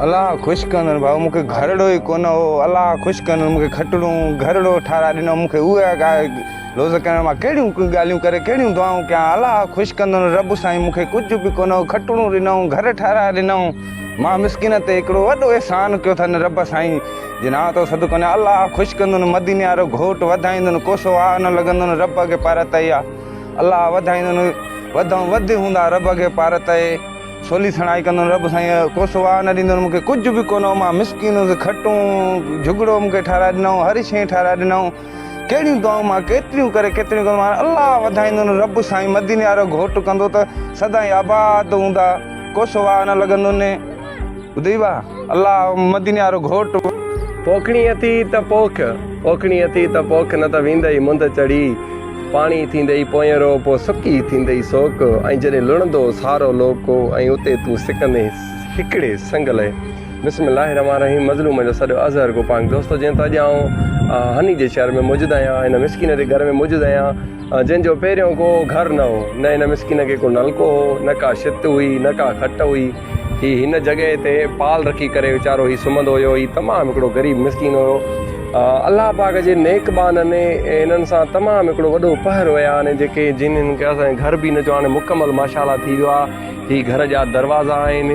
الله خوش ڪندڙ ڀاء مون کي گهرڙو ئي ڪونه هو الله خوش ڪندڙ مون کي کٽڻو گهرڙو ٺاراء ڏنو مون کي اها ڳالهه روز ڪرڻ مان ڪهڙيون ڳالهيون ڪري ڪهڙيون دعائون ڪيان الله خوش ڪندڙ رب سائين مون کي ڪجهه به ڪونه هو کٽڻو ڏنائون گهر ٺاراء ڏنائون مان مسڪين تي هڪڙو وڏو احسان ڪيو اٿن رب سائين جي نان تو سڌ ڪونه الله خوش ڪندن مديني وارو گهوٽ وڌائيندن ڪوسو آ نه لڳندن رب اڳي پرت اي آ الله وڌائيندن وڌئون وڌ هوندا رب اڳي پار تئي سولي سڻائي ڪندن رب سائين ڪو سواء نه ڏيندن مونکي ڪجھ به ڪونه مان مسڪين هوس کٽون جھڳڙو مونکي ٺهرائي ڏنئون هر شئي ٺهرائي ڏنئون ڪهڙيون دعائون مان ڪيتريون ڪري ڪيتريون ڪري مان الله وڌائيندن رب سائين مديني وارو گھوٽ ڪندو ته سدائين آباد هوندا ڪو سواء نه لڳندن ٻڌئي وا الله مديني وارو گهوٽ. پوکڻي اٿئي ته پوک، پوکڻي اٿئي ته پوک نه ته ويندئي منڌ چڙهي، پاڻي ٿيندئي پوئينرو پوء سڪي ٿيندئي سوڪ ۽ جڏهن لڻندو سارو لوڪ ۽ اتي تون سڪندين هڪڙي سنگ لئه. بسم الله الرحمٰن الرحيم مظلومن جو سڏ اظهر گو پاڪ دوستو جنهن ته اڄ آئون هني جي شهر ۾ موجود آهيان هن مسڪين جي گهر ۾ موجود آهيان جنهن جو پهريون ڪو گهر نه هو نه هن مسڪين کي ڪو نلڪو هو نه ڪا شت هئي نه ڪا کٽ هئي هي هن جڳهه تي پال رکي ڪري ويچارو هي سمهندو هيو. هي تمام هڪڙو غريب مسڪين هيو. الله پاڪ جي نيڪ ٻانهن هنن سان تمام هڪڙو وڏو پهر ويا آهن جيڪي جن هن کي اسان جي گهر به هن جو هاڻي مڪمل ماشاء الله ٿي ويو آهي. هي گهر جا دروازا آهن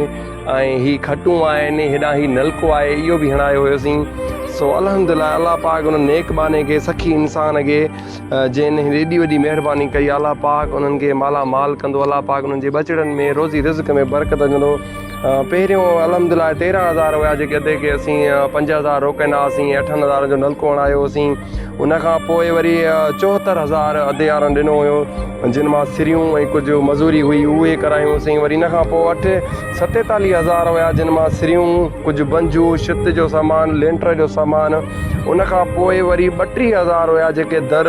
۽ هي کٽون آهن. هيڏانهن هي نلڪو آهي اهو به هڻايو هيوسين. سو الحمدلله الله پاڪ هن نيڪ ٻانهن کي سخي انسان کي جن هن ايڏي وڏي مهرباني ڪئي الله پاڪ انهن کي مالا مال ڪندو الله پاڪ انهن جي ٻچڙن ۾ روزي رزق ۾ برڪت وجهندو پهريون الحمدلله تيرهن هزار هيا جيڪي اڌي کي اسين پنج هزار روڪيندا هئاسين اٺن هزارن جو نلڪو هڻايو هوسين ان کان پوء وري چوهتر هزار اڌي وارن ڏنو هيو جن مان سريون ۽ ڪجهه مزوري هئي اهي ڪرايون هوسين وري ان کان پوء اٺ ستيتاليهه هزار هيا جن مان سريون، ڪجهه بنجو، شت جو سامان، لينٽر جو سامان، ان کان پوء وري ٻٽيهه هزار هيا جيڪي در،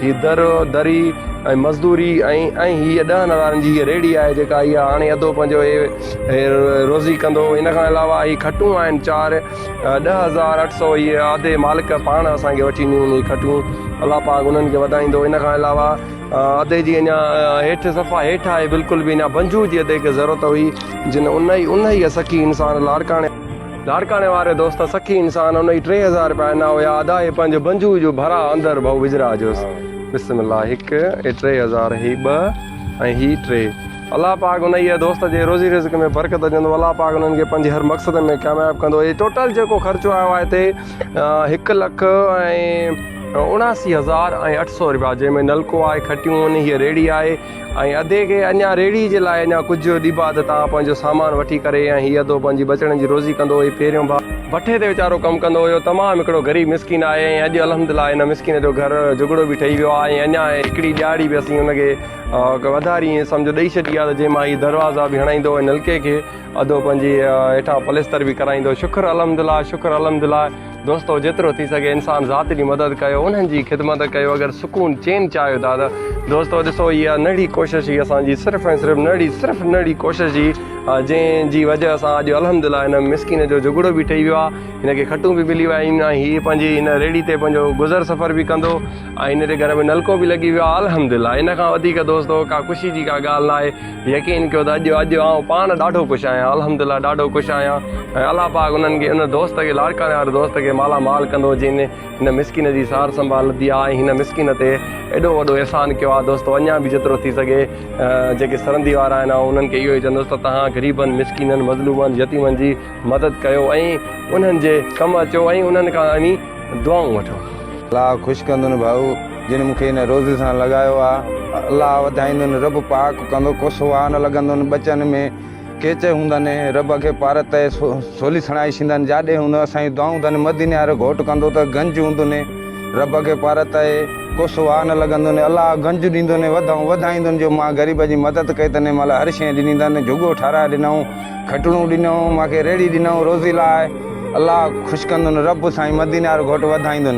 هي در، دري ۽ مزدوري ۽ ۽ هيء ڏهن هزارن جي هيء ريڙهي آهي جيڪا هيء هاڻي اڌو پنجو هي هي روزي ڪندو ان کان علاوه هي کٽون آهن چار ڏهه هزار اٺ سؤ هيء آڌي مالڪ پاڻ اسان کي وٺي ڏنيون هن جي کٽون الله پاڪ انهن کي وڌائيندو ان کان علاوه ادي جي اڃا هيٺ صفا هيٺ آهي بلڪل به اڃا بنجو جي ادي کي ضرورت هئي جن ان ئي ان ئي سکي انسان لاڙڪاڻي لاڙڪاڻي واري دوست سکي انسان ان ئي ٽي هزار رپيا انا هيا ادا هي پنهنجو بنجو جو ڀرا اندر ڀئو وجھرا جوس بسم الله هڪ هي ٽي هزار هي ٻه ۽ هي ٽي الله پاڪ ان ئي دوست جي روزي رزق ۾ برڪت جندو الله پاڪ انهن کي پنهنجي هر مقصد ۾ ڪامياب ڪندو هي ٽوٽل جيڪو خرچو آيو آهي هتي هڪ لک ۽ اڻاسي هزار ۽ اٺ سؤ روپيا جنهن ۾ نلڪو آهي کٽيون آهن هيء ريڙهي آهي ۽ ادي کي اڃا ريڙهي جي لاء اڃا ڪجهه ڏبا ته تان پنهنجو سامان وٺي ڪري ۽ هي ادو پنهنجي ٻچڙن جي روزي ڪندو هي پهريون ڀاء ڀٺي تي ويچارو ڪم ڪندو هيو تمام هڪڙو غريب مسڪين آهي ۽ اڄ الحمدلله هن مسڪين جو گهر جهڳڙو به ٺهي ويو آهي ۽ اڃا هڪڙي ڏهاڙي به اسين هن کي وڌاري ائين سمجهو ڏئي ڇڏي آهي ته جنهن مان هي دروازا به هڻائيندو ۽ نلڪي کي ادو پنهنجي هيٺان پليستر به ڪرائيندو شڪر الحمدلله شڪر الحمدلله دوستو جيترو ٿي سگهي انسان ذات جي مدد ڪيو انهن جي خدمت ڪيو اگر سڪون چين چاهيو ٿا ته دوستو ڏسو هي آ نڙي ڪوشش هي اسان جي صرف ۽ صرف نڙي صرف نڙي ڪوشش هي جنهن جي وجه سان اڄ الحمدلله هن مسڪين جو جهڳڙو به ٺهي ويو آهي هن کي کٽون به ملي ويا آهن ۽ هي پنهنجي هن ريڙي تي پنهنجو گذر سفر به ڪندو ۽ هن جي گهر ۾ نلڪو به لڳي ويو آهي الحمدلله ان کان وڌيڪ دوستو ڪا خوشي جي ڪا ڳالهه ناهي يقين ڪيو ته اڄ اڄ آئون پاڻ ڏاڍو خوش آهيان الحمد الله ڏاڍو خوش آهيان ۽ الله پاڪ انهن کي ان دوست کي لاڙڪاڻي واري دوست کي مالا مال ڪندو جنهن هن مسڪين جي سار سنڀال لڌي آهي ۽ هن مسڪين تي ايڏو وڏو احسان ڪيو آهي دوستو اڃان به جيترو ٿي سگهي جيڪي سرندي وارا آهن آئون انهن کي اهو ئي چوندس ته تهان غريبن مسڪينن مظلومن يتيمن جي مدد ڪيو ۽ انهن جي ڪم اچو ۽ انهن کان دعائون وٺو. الله خوش ڪندن ڀائو جن مون کي ان روزي سان لڳايو آ الله وڌائيندن رب پاڪ ڪندو ڪو سوها نه لڳندن ٻچن ۾ ڪيچ هوندن رب اکي پار تي سولي سڻائي شيندن جاڏي هوندو اسان جي دعائون تن مديني وارو گهوٽ ڪندو ته گنج هوندن رب اکي پار تي ڪو سوها نه لڳندن الله گنج ڏيندن وڌائون وڌائيندن جو مان غريب جي مدد ڪئي تنهن مهل هر شيء ڏني تن جهڳو ٺهرائي ڏنائون کٽڻون ڏنائون مانکي ريڙهي ڏنائون روزي لاء. الله خوش ڪندن رب سائين مديني وارو گهوٽ وڌائيندن.